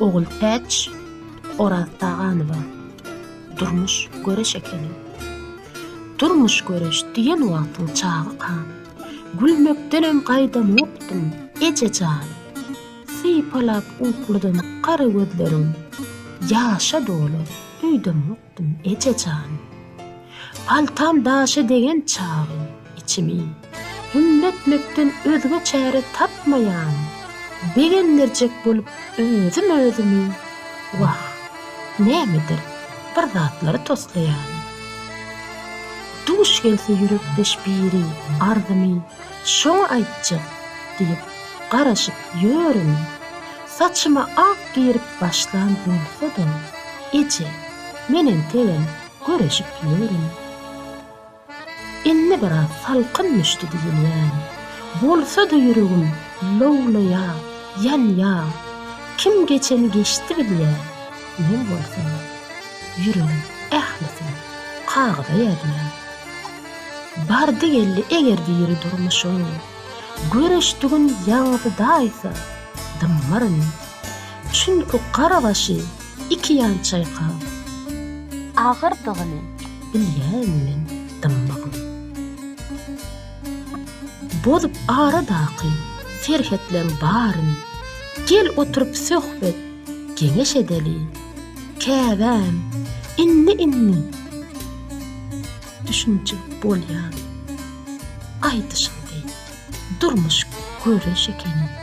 Ogultäç Oraztaganowa Durmuş göreş ekeni. Durmuş göreş diýen wagtyň çagykam. Gülmekdenem gaýdamokdym, eje jan. Sypalap ukludym gara gözlerim. Ýaşa doly öýdemok. Ýatdym, eje jan. Paltam daşa degen çagym, içimi Hümle etmekden özge çäre tapmaýan, begendirjek bolup özüm özümi Wah, nämedir bir zatlary toslaýan. Duş gelse ýürekdeş biri, arzymy Şoňa aýtjak diýip garaşyp ýörün. Saçyma ak girip başlan bolsa-da, eje, men entegem göreşip ýörün. Indi biraz salkyn düşdi diýilýän. Bolsa-da ýüregim lowlaýa, ýanýa. Kim geçeni geçdi bilýä, men bolsa, ýüregim ählisini kagyza ýazýan. Bardy-geldi eger diri durmuşyň. Göreşdigin ýaňzy daýza, dymmaryn. Çünki gara başy iki ýan çaýkap. Agyrdygyny bilýän men dymmagyň. Bozup aradaky serhetleň baryn. Gel oturyp söhbet, geňeş edeli. Käbäm, indi-indi. düşünje bolýan aýdyşyňdy durmuş göreş ekeni.